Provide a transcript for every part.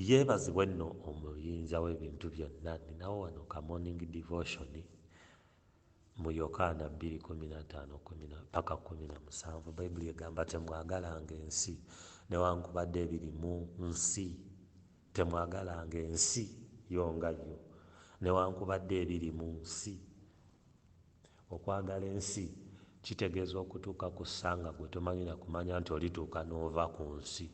yeebazibwe nno omuyinza w'ebintu byonna ninawo wano ka morning devotion mu yokaana 2:15-17 bayibuli egamba temwagalanga ensi newankubadde ebiri mu nsi temwagalanga ensi yo nga yo newankubadde ebiri mu nsi Okwagala ensi kitegeeza okutuuka ku ssa nga gwe tomanyi na kumanya nti olituuka n'ova ku nsi.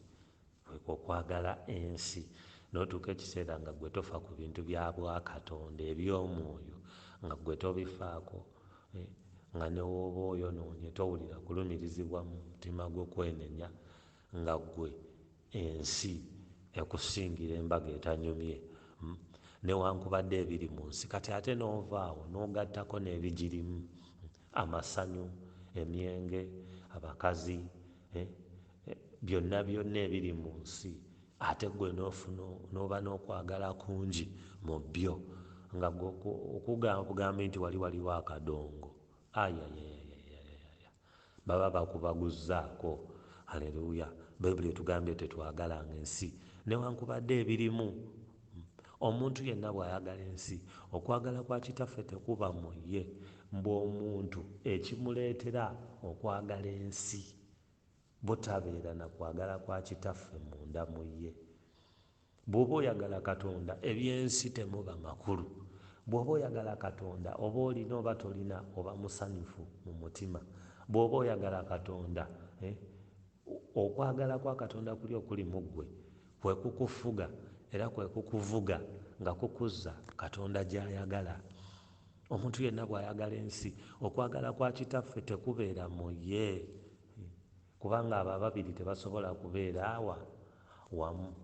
Kwekwo okwagala ensi n'otuuka ekiseera nga gwe tofa ku bintu bya bwakatonda eby'omwoyo nga gwe tobifaako nga ne w'oba oyonoonye towulira kulumirizibwa mu mutima gwo kwenenya. Nga gwe ensi ekusingira embaga etanyumye hum newankubadde ebiri munsi kati ate nova awo nogattako nebijirimu amasanyu, emyenge, abakazi eh byonna byonna ebiri munsi ate gwe nofuna noba nokwagala kungi mubyo nga gwe okugamb gambi nti wali waliwo akadongo ayayayayayaya. Baba bakubaguzzaako. Hallelujah. Baibuli etugambye tetwagalanga ensi newankubadde ebirimu. Omuntu yenna bw'ayagala ensi, okwagala kwa Kitaffe tekuba mu ye. Mbu omuntu ekimuleetera okwagala ensi, butabeera na kwagala kwa Kitaffe munda mu ye. Bwoba oyagala katonda ebyensi temuba makulu bwoba oyagala katonda oba olina oba tolina oba musanyufu mumutima bwoba oyagala katonda eh okwagala kwa katonda kuli okuli muggwe kwekukufuga era kwekukuvuga nga kukuzza katonda gyayagala omuntu yenna bwayagala ensi okwagala kwa kitaffe tekubeera muye. Kubanga abo ababiri tebasobola kubeera wa, wamu.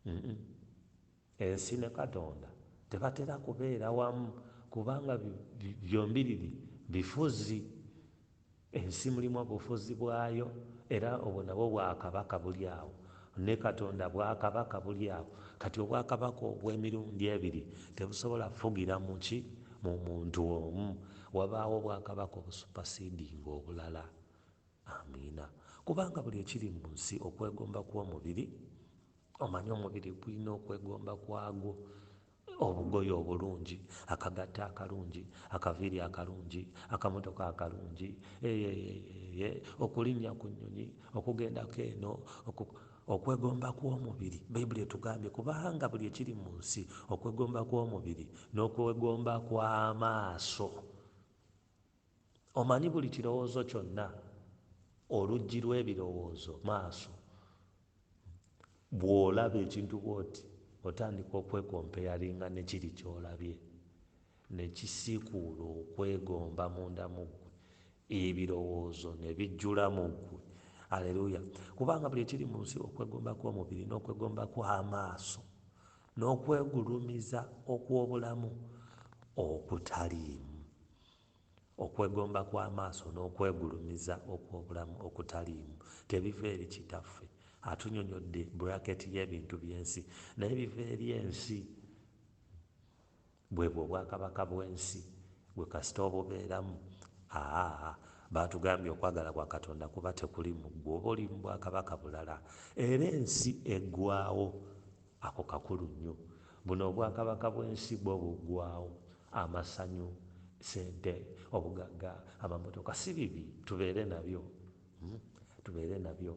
Mm-mm. Ensi ne Katonda tebatera kubeera wamu, kubanga bi, bi, byombiriri bifuzi. Ensi mulimu obufuzi bwayo, era obwo nabwo bwakabaka buli awo. Ne Katonda bwakabaka buli awo. Kati obwakabaka obw'emirundi ebiri tebusobola kufugira mu ki? Mu muntu omu. Wabaawo obwakabaka obusupasidinga obulala. Amiina. Kubanga buli ekiri mu nsi, okwegomba kw'omubiri, omanyi, omubiri gulina okwegomba kwagwo, obugoye obulungi, akagatto akalungi, akaviiri akalungi, akamotoka akalungi, eeh, okulinnya ku nnyonyi, okugendako eno, oku, okwegomba kw'omubiri. Bayibuli etugambye, Kubanga buli ekiri mu nsi, okwegomba kw'omubiri, n'okwegomba kw'amaaso, Omanyi buli kirowoozo kyonna, oluggi lw'ebirowoozo, maaso. Bw'olaba ekintu bw'oti, otandika okwekompeyalinga ne kiri ky'olabye, ne kisiikuula okwegomba munda mu ggwe, ebirowoozo ne bijjula mu ggwe. Aleruuya! Kubanga buli ekiri mu nsi, okwegomba kw'omubiri, n'okwegomba kw'amaaso, n'okwegulumiza okw'obulamu okutaliimu. Okwegomba kw'amaaso n'okwegulumiza okw'obulamu okutaliimu tebiva eri Kitaffe. Atunyonyodde bracket y'ebintu by'ensi, naye biva eri ensi. Bwebwo obwakabaka bw'ensi, gwe kasita obubeeramu. Aa, baatugambye okwagala kwa Katonda kuba tekuli mu ggwe oba oli mu bwakabaka bulala. Era ensi eggwaawo. Ako kakulu nnyo. Buno obwakabaka bw'ensi bwo buggwaawo. Amasanyu, ssente, obugagga, amamotoka si bibi tubeere nabyo, tubeere nabyo.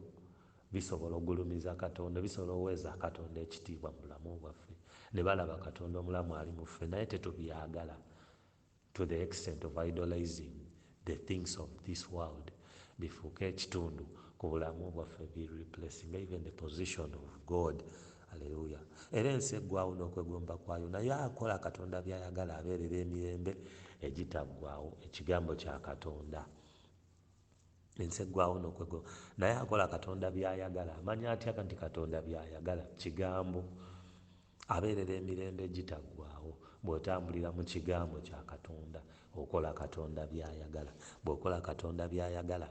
Bisobola okugulumiza Katonda, bisobola okuweeza Katonda ekitiibwa mu bulamu bwaffe, ne balaba Katonda omulamu ali mu ffe, naye tetubyagala. to the extent of idolizing the things of this world bifuuke ekitundu ku bulamu bwaffe bi replacing even the position of God aleluya era ensi eggwawo n'okwegomba kwayo naye akola katonda byayagala abeerera emirembe egitaggwawo ekigambo kya katonda ensi eggwawo n'okwego naye akola katonda byayagala amanya atya nti katonda byayagala kigambo Abeerera emirembe egitaggwaawo. Bw'otambulira mu Kigambo kya Katonda, okola Katonda by'ayagala. Bw'okola Katonda by'ayagala,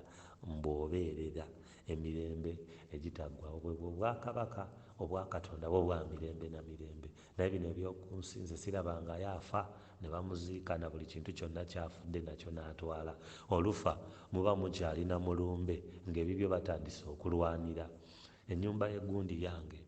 mbu obeerera emirembe egitaggwaawo. Bwe bwo Obwakabaka obwa Katonda, bwo bwa mirembe na mirembe. Naye bino eby'oku nsi, nze ssirabangayo afa ne bamuziika, na buli kintu kyonna ky'afudde nakyo n'atwala. Olufa muba mukyali na mulumbe, nga ebibyo batandise okulwanira. Ennyumba y'e gundi yange.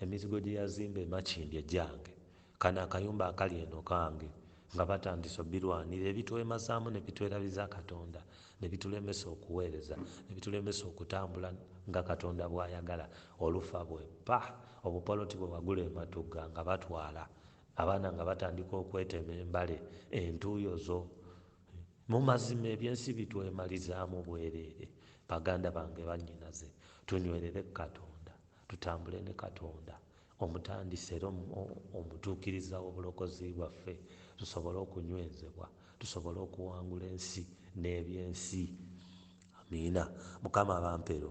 Emizigo gyeyazimba e Makindye gyange. Kano akayumba akali eno kange. Nga batandise obirwanira, ebitwemazaamu ne bitwerabiza Katonda, ne bitulemesa okuweereza, ne bitulemesa okutambula nga Katonda bw'ayagala. Olufa bwe pa! Obupoloti bwe wagula e Matugga nga batwala. Abaana nga batandika okwetema embale, entuuyo zo. Mu mazima eby'ensi bitwemalizaamu bwereere. Baganda bange, bannyinaze, tunywerere ku Katonda. Tutambule ne Katonda, Omutandisi era Omutuukiriza w'obulokozi bwaffe, tusobole okunywezebwa, tusobole okuwangula ensi n'eby'ensi. Amiina. Mukama abampero.